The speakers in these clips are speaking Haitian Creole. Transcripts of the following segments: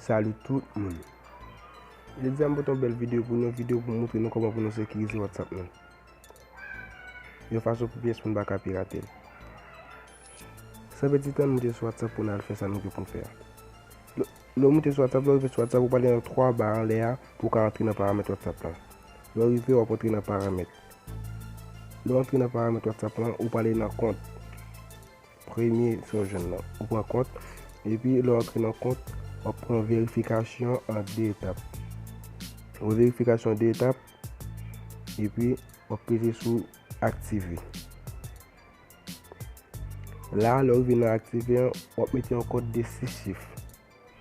Salut tout moun Jodi a m pote yon bèl video pou nou, video pou moutre nou kòman pou nou sekirize whatsapp nou yon fason pou pyès moun pa ka pirate l San pèdi tan nou moute sou whatsapp pou nou al fè sa nou gen pou nou fè a Lè w moute sou whatsapp, lè w rive sou whatsapp ou pale nan 3 ba anlè a pou w ka antre nan paramèt whatsapp lan Lè w rive w ap antre nan paramèt Lè w antre nan paramèt whatsapp lan ou pale nan kont Premye sa w jwenn lan, ou pran kont, epi lè w antre nan kont, w ap pran verifikasyon an 2 etap. Wè verifikasyon an 2 etap, epi w ap peze sou aktive. La, lè w rive nan aktive an, w ap mete yon kòd de 6 chif.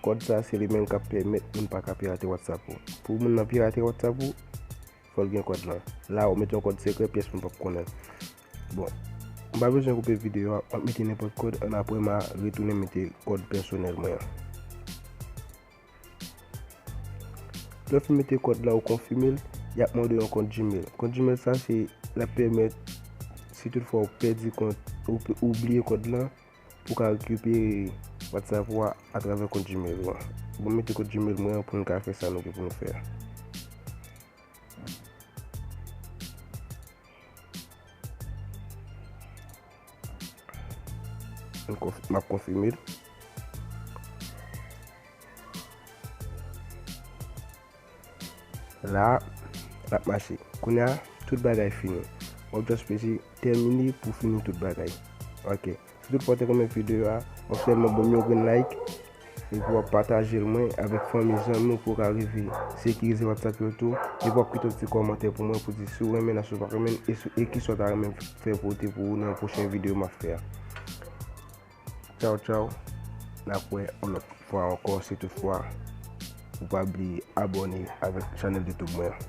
Kòd sa se li menm k ap pèmèt moun pa ka pirate Whatsapp ou. Pou moun nan pirate Whatsapp ou, fò l gen kòd lan. La, w ap mete yon kòd sekrè pyès moun p ap konnen. Bon m pa bezwen koupe video a map mete nenpòt kòd an aprè ma retounen mete kòd pèsonèl mwen an. Lè w fin mete kòd la ou konfime l, yap mande w yon kont gmail. Kont gmail sa se lap pèmèt si tout fwa ou pèdi kont ou bliye kòd lan pou ka rekipere whatsapp ou a atravè kont gmail ou an. Bon m mete kont gmail mwen an pou n ka fè sa nou gen pou nou fè a. Map konfime l. La, lap mache. Kounya, tout bagay fini. Wap just presi termine pou fini tout bagay. Ok. Sitou ou pate renmen video a wap sèlman banm yon grenn like epi wap patajel mwen avèk fanmi zanmi ou pou ou ka rive sekirize whatsapp yo tou epi wap kite yon ti kòmantè pou mwen pou di si ou renmen nan si ou pa renmen e kisa ou ta renmen fè pote pou ou nan pwochen video map fè a Tchaw tchaw nap wè yon lòt fwa ankò si tout fwa ou pa bliye abòne avèk chanèl youtube mwen an.